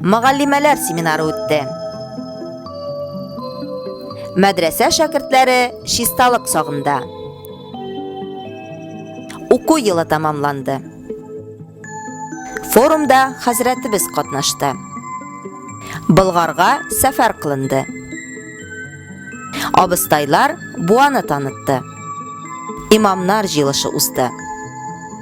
Мөгаллимәләр семинары үтте. Мәдрәсә шәкертләре чисталык сагында. Уку елы тамамланды. Форумда хәзрәтебез катнашты. Болгарга сәфәр кылынды. Абыстайлар буаны танытты. Имамнар җыелышы узды.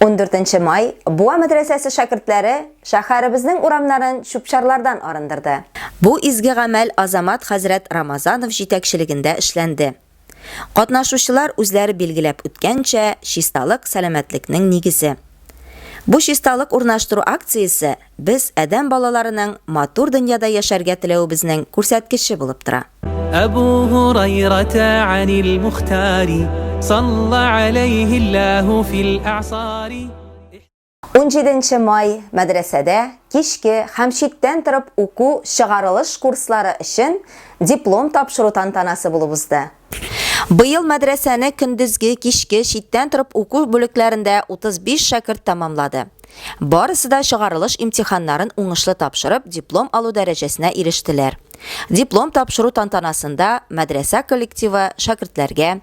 14 май Буа мәдрәсәсе шәкертләре шәһәребезнең урамнарын чүпчарлардан арындырды. Бу изге гамәл Азамат хәзрәт Рамазанов җитәкчелегендә эшләнде. Катнашучылар үзләре билгеләп үткәнчә, чисталык сәламәтлекнең нигезе. Бу чисталык урнаштыру акциясе без, адәм балаларының матур дөньяда яшәргә теләвебезнең күрсәткече булып тора. Әбу Һурайрата анил Мухтари, салла алейһи Аллаһу фил әгъсари. Унҗиденче май, мәдрәсәдә кичке һәм читтән торып уку чыгарылыш курслары өчен диплом тапшыру тантанасы булып узды. Быел мәдрәсәне көндезге, кичке, читтән торып уку бүлекләрендә 35 шәкерт тәмамлады. Барысы да чыгарылыш имтиханнарын уңышлы тапшырып, диплом алу дәрәҗәсенә ирештеләр. Диплом тапшыру тантанасында мәдрәсә коллективы шәкертләргә,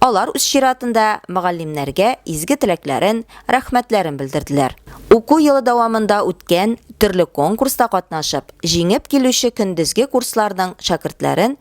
алар үз чиратында мөгаллимнәргә изге теләкләрен, рәхмәтләрен белдерделәр. Уку елы дәвамында үткән төрле конкурста катнашып, җиңеп килүче көндезге курсларның шәкертләрен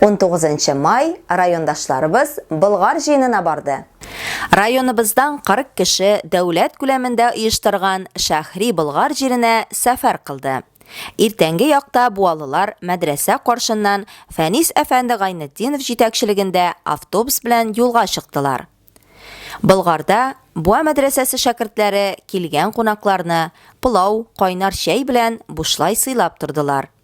19 нчы май райондашларыбыз Болгар җыенына барды. Районыбыздан 40 кеше дәүләт күләмендә оештырган Шәһри Болгар җиренә сәфәр кылды. Иртәнге якта буалылар мәдрәсә каршыннан Фәнис әфәнде Гайнетдинов җитәкчелегендә автобус белән юлга чыктылар. Болгарда Буа мәдрәсәсе шәкертләре килгән кунакларны пылау, кайнар чәй белән бушлай сыйлап тордылар.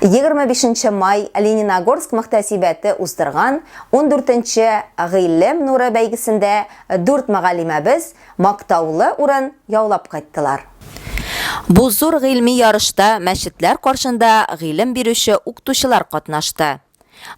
25 нче май Лениногорск мөхтәсибәте уздырган 14 нче Гыйлем нуры бәйгесендә дүрт мөгаллимәбез мактаулы урын яулап кайттылар. Бу зур гыйльми ярышта мәчетләр каршында гыйлем бирүче уктучылар катнашты.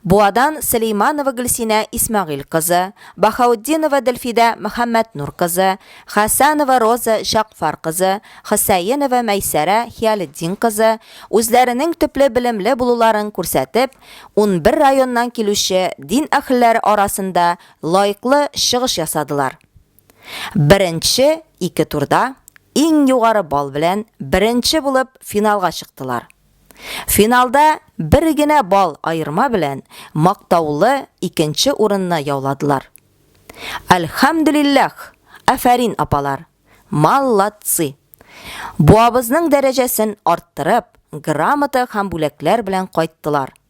Буадан Сөлейманова Гөлсинә Исмәгыйль кызы, Баһаутдинова Дөлфидә Мөхәммәтнур кызы, Хәсәнова Роза Җәгъфар кызы, Хөсәенова Мәйсәрә Хиялетдин кызы үзләренең төпле белемле булуларын күрсәтеп, унбер районнан килүче дин әһелләре арасында лаеклы чыгыш ясадылар. Беренче ике турда иң югары балл белән беренче булып финалга чыктылар. Финалда бер генә балл аерма белән мактаулы икенче урынны яуладылар. Әлхәмдүлилләх! Афәрин, апалар! Мал-лад-цы! Буабызның дәрәҗәсен арттырып, грамота һәм бүләкләр белән кайттылар.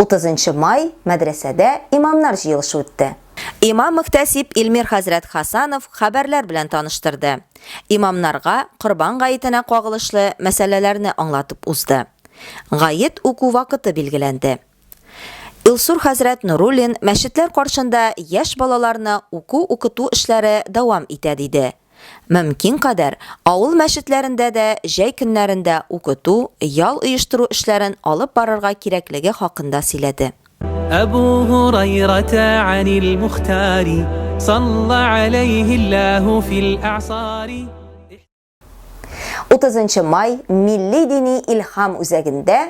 30 май мәдрәсәдә имамнар җыелышы үтте. Имам-мөхтәсиб Илмир хәзрәт Хасанов хәбәрләр белән таныштырды. Имамнарга Корбан гаетенә кагылышлы мәсьәләләрне аңлатып узды. Гает уку вакыты билгеләнде. Илсур хәзрәт Нуруллин мәчетләр каршында яшь балаларны уку-укыту эшләре дәвам итә диде. Мөмкин кадәр авыл мәчетләрендә дә җәй көннәрендә укыту, ял оештыру эшләрен алып барырга кирәклеге хакында сөйләде. Әбу Һурайрата анил Мухтари, салла аләйһи Аллаһу фил әгъсари. Утызынчы май милли-дини илһам үзәгендә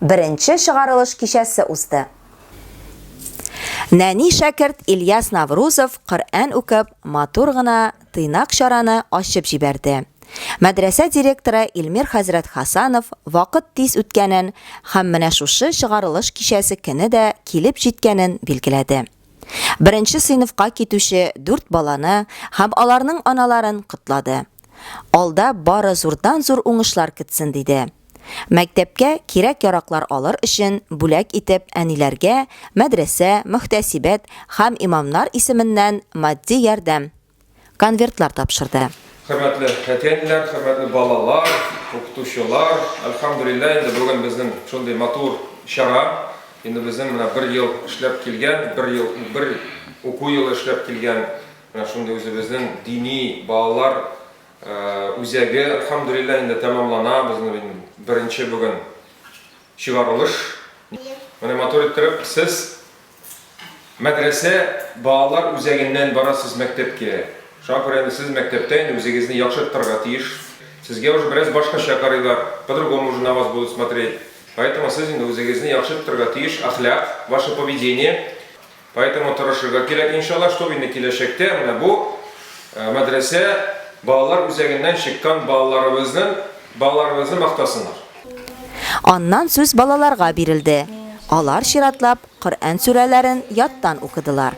беренче чыгарылыш кичәсе узды. Нәни шәкерт Ильяс Наврузов Коръән укып, матур гына тыйнак чараны ачып җибәрде. Мәдрәсә директоры Илмир хәзрәт Хасанов вакыт тиз үткәнен һәм менә шушы чыгарылыш кичәсе көне дә килеп җиткәнен билгеләде. Беренче сыйныфка китүче дүрт баланы һәм аларның аналарын котлады. Алда бары зурдан-зур уңышлар көтсен, диде. Мәктәпкә кирәк-яраклар алыр өчен бүләк итеп әниләргә мәдрәсә, мөхтәсибәт һәм имамнар исеменнән матди ярдәм конвертлар тапшырды. Хөрмәтле әти-әниләр, хөрмәтле балалар, укытучылар! Әлхәмдүлилләһ, инде бүген безнең шундый матур чара, инде безнең менә бер ел эшләп килгән, бер ел, бер уку елы эшләп килгән менә шундый үзебезнең дини балалар Үзәге, Альхамдулиллаһ, инде тәмамлана, безнең инде беренче бүген чыгарылыш. Менә матур иттереп, сез мәдрәсә балалар үзәгеннән барасыз мәктәпкә. Шуңа күрә инде сез мәктәптә инде үзегезне яхшы тотарга тиеш. Сезгә уже бераз башкача карыйлар, по-другому уже на вас будут смотреть. Поэтому сез инде үзегезне яхшы тотарга тиеш, әхлак, ваше поведение. Поэтому тырышырга кирәк, иншалла, чтоб инде киләчәктә менә бу мәдрәсә балалар үзәгеннән чыккан балаларыбызның балаларыбызны мактасыннар. Аннан сүз балаларга бирелде. Алар чиратлап Коръән сүрәләрен яттан укыдылар.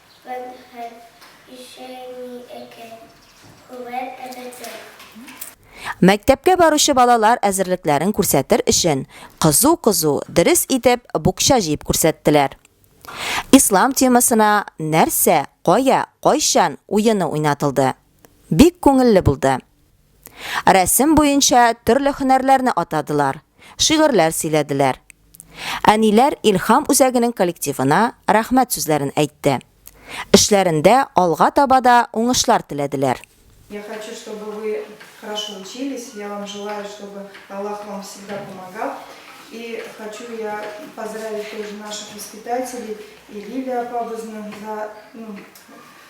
Мәнфәәт исә ни икән? Күбән әбетә. Мәктәпкә баручы балалар әзерлекләрен күрсәтер өчен кызу-кызу, дөрес итеп букча җыеп күрсәттеләр. Ислам темасына Нәрсә, кая, кайчан? уены уйнатылды. Бик күңелле булды. Рәсем буенча төрле һөнәрләрне атадылар, шигырьләр сөйләделәр. Әниләр Илһам үзәгенең коллективына рәхмәт сүзләрен әйтте. Эшләрендә алга таба да уңышлар теләделәр. Я хочу, чтобы вы хорошо учились, я вам желаю, чтобы Аллах вам всегда помогал, и хочу я поздравить тоже наших воспитателей и Лилию апабызны за, ну,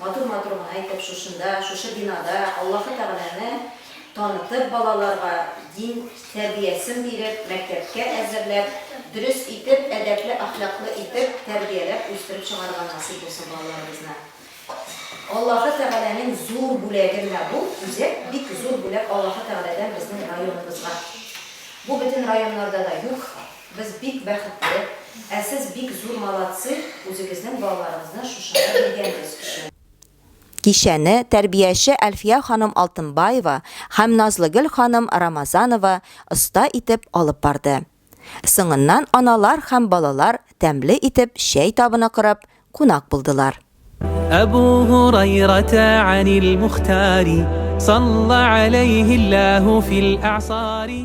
Матур матур гына итеп шушында, шушы бинада Аллаһы Тәгаләне танытып, балаларга дин тәрбиясен биреп, мәктәпкә әзерләп, дөрес итеп, әдәпле, әхлаклы итеп тәрбияләп үстереп чыгарырга насыйп булсын балаларыбызны. Аллаһы Тәгаләнең зур бүләге менә бу үзәк, бик зур бүләк Аллаһы Тәгаләдән безнең районыбызга. Бу бөтен районнарда да юк. Без бик бәхетле, ә сез бик зур молодцы үзегезнең балаларыгызны шушында биргәнегез өчен. Кичәне тәрбияче Әлфия ханым Алтынбаева һәм Назлыгөл ханым Рамазанова оста итеп алып барды. Соңыннан аналар һәм балалар тәмле итеп чәй табыны корып, кунак булдылар. Әбу Һурайрата анил Мухтари салла аләйһи Аллаһу фил әгъсари.